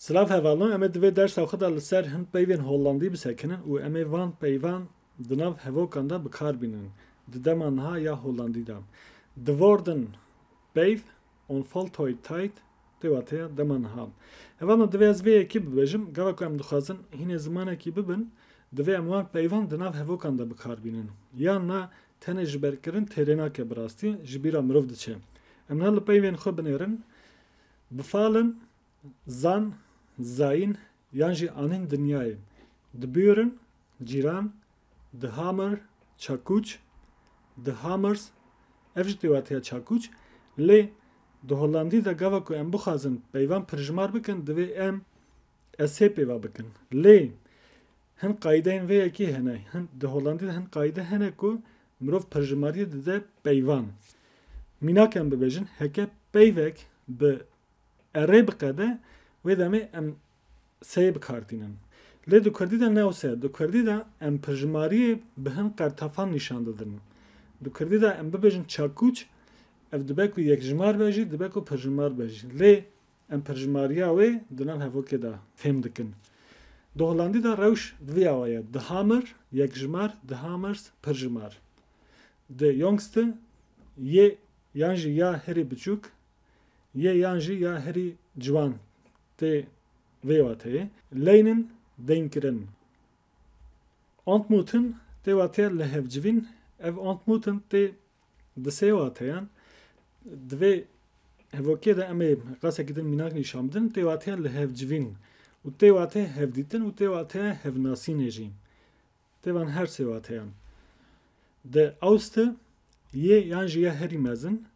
Silav hevalno em ê di vê dersa xwe de li ser hin peyvên Hollandî bisekinin û em ê van peyvan di nav hevokan de bi kar bînin di dema niha ya Hollandî de. De Woorden, Peyv, onvoltooid tijd, pêwateya dema niha. Hevalno divê ez vê yekê bibêjim, gava ku em dixwazin hînê zimanekî bibin, divê em van peyvan di nav hevokan de bi kar bînin. Yan na tenê ji ber kirin têrê nake bi rastî ji bîra mirov diçe. Em ne li peyvên xwe binêrin, bifalin, Zan, zayîn yan jî anîn dinyayê di Büren, Cîran, di Hamr, Çakûç, di Hamers ev jî pêwatiya Çakûç lê di Hollandî de gava ku em bixwazin peyvan pirjimar bikin divê em SH pêva bikin lê hin qayîdeyên vê yekê hene hin di Hollandî de hin qayîde hene ku mirov pirjimariyê dide peyvan mînak em bibêjin heke peyvek bi E rê biqede, wê demê em seyê bi kar tînin. Lê di kurdî de ne wisa ye. Di kurdî de em pirjimariyê bi hin qertefan nîşan didin. Di kurdî de em bibêjin çakûç, ev dibe ku yekjimar be jî, dibe ku pirjimar be jî. Lê em pirjimariya wê di nav hevokê de fêm dikin. Di holandî de rewş di vî awa ye, de Hamer, yekjimar, de Hamers, pirjimar. Di Jongste, yê yan jî ya hirî biçûk, yê yan jî ya herî ciwan tê vê wateyê Leynin deynkirin. Ontmutin tê wateya lihevcivîn, ev ontmutin tê di sê wateyan, di vê hevokê de em ê qasekî din mînak nîşan bidin, tê wateya lihevcivîn û tê wateya hevdîtin û tê wateya hevnasînê jî. Tê van her sê wateyan de awste yê yan jî ya herî mezin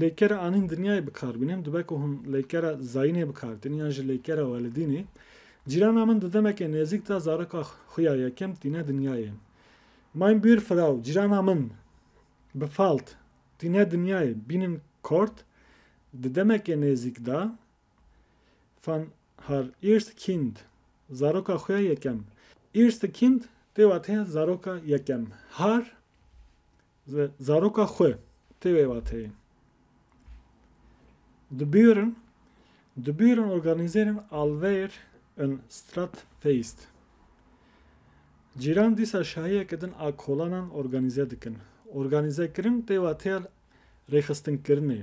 Lêkera anîn dinyayê bikar bîne, em dibe ku hûn lêkera zayînê bikar tînin yan jî lêkera welidînê. Cîrana min di demeke nêzîk de zaroka xwe ya yekem tîne dinyayê. Mein Bühr Frau, Cîrana min, befalt, tîne dinyayê, bînin Kort, di demeke nêzîk de fan har erste Kind, zaroka xwe ya yekem. Erste Kind, tê wate zaroka yekem. Har, Zaroka xwe tê wê wateyê dibûrin dibûrin organîzerên alveyr in Stratfeist. Cîran dîsa şahiyeke din a kolanan organîze dikin. Organîzekirin tê wateya rêxistinkirinê.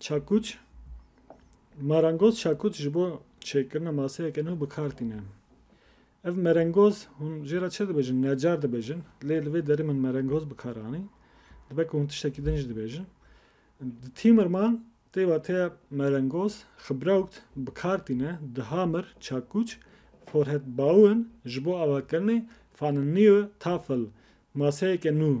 Çakûç, Marangoz çakûç ji bo çêkirina maseyeke nû bi kar tîne. Ev merengoz hûn jê re çi dibêjin? Necar dibêjin. Lê li vê derê min merengoz bi kar anî. Dibe ku hûn tiştekî din jî dibêjin. Di Tîmirman tê wateya merengoz, Xibrawkt, bi kar tîne. Di Hamir, çakûç, Forhet Baûin ji bo avakirinê, Faninniyo, Tafel, maseyeke nû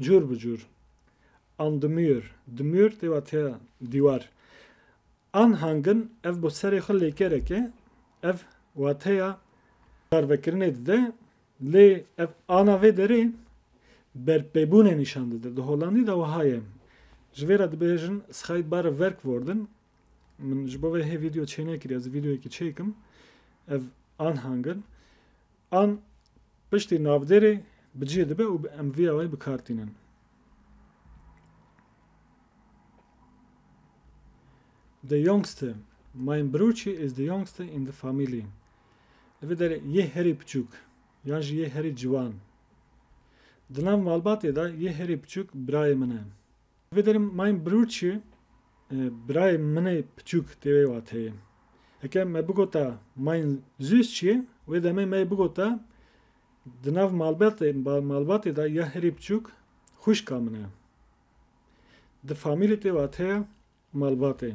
Cûr bi cûr. An di mûr, di mûr tê watiya dîwar. An hangin, ev bo serê xwe lêkerek e, ev wateya karvekirinê dide, lê ev ana vê derê berpêbûnê nîşan dide. Di holandî de wiha ye. Ji vê re dibêjin scheidbare werkwoorden. Min ji bo vê hê vîdeo çênekiriye, ez ê vîdeoyekî çêkim. Ev an hangin. An piştî navdêrê bi cihê dibe û em vê awayî bi kar tînin. The youngster, Mein Bruçi is the youngster in the family. Li vê derê yê herî piçûk yan jî yê herî ciwan. Di nav malbatê de yê herî piçûk birayê min e. Divê derim Mein Brud çi? Birayê min ê piçûk tê wê wateyê. Heke me bigota Mein Süß çi? Wê demê me yê bigota Di nav malbatê malbatê de ya herî piçûk xwişka min e. Di famîlê tê wateya malbatê.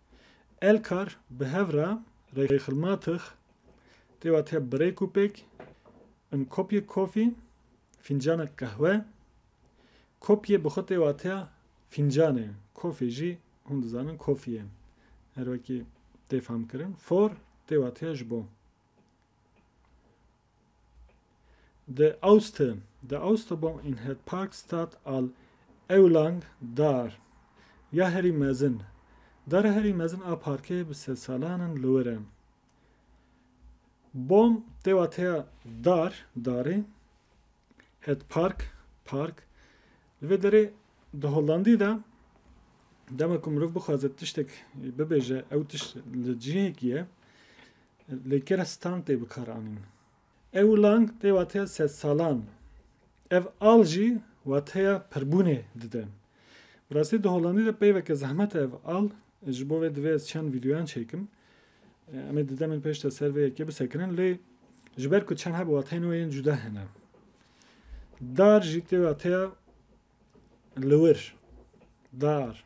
Elkar bi hev re reyxilmatix tê wa te birêk û pêk in kopyek kofî, fîncanek qehwe, kopyê bi xwe tê wa te fîncan e, kofê jî hûn dizanin kofî ye. Her wekî tê famkirin. For tê wa te ji bo. De Aoste, De Aoste bom in het Parkstad al Eulang daar, ya herî mezin, dara herî mezin a parkê bi sedsalan in li wir e. Bom tê wateya dar, darê, het park, park. Li vê derê di Hollandî de dema ku mirov bixwaze tiştek bibêje ew tişt li cihekî ye. Li kê re stand tê bikaranîn? Ewlang tê wateya sedsalan. Ev al jî wateya pirbûnê dide. Bi rastî di Holandî de peyveke zehmet e ev al, ji bo vê divê ez çend vîdyoyan çêkim. Em ê di demên pêş de ser vê yekê bisekirin lê ji ber ku çend hebe wateyên wê yên cuda hene. Dar jî tê wateya liwir, dar.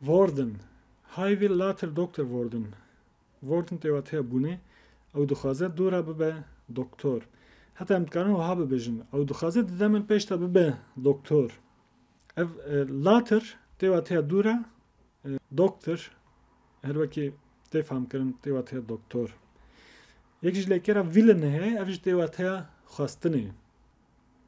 Worden, High Will Later Doctor Worden, Worden tê wateya bûnê, ew dixwaze dûra bibe doktor. Heta em dikarin wiha bibêjin, ew dixwaze di demin pêş de bibe doktor. Ev e, later tê wateya dûra, e, doktor, her wekî tê famkirin tê wateya doktor. Yek ji lêkera vîlin heye, ev ji tê wateya xwestinê.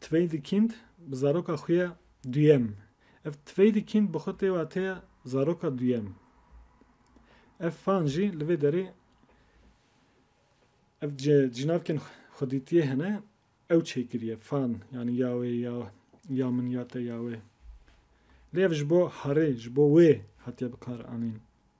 Tveydîkind bi zaroka xwe ya duyem. Ev Tveydîkind bi xwe tê wa tê ya zaroka duyem. Ev fan jî li vê derê ev cinavkên xwedîtiyê hene ew çêkiriye fan yanî ya wê ya ya min ya te ya wê. Lê ev ji bo herê ji bo wê hatiye bikaranîn.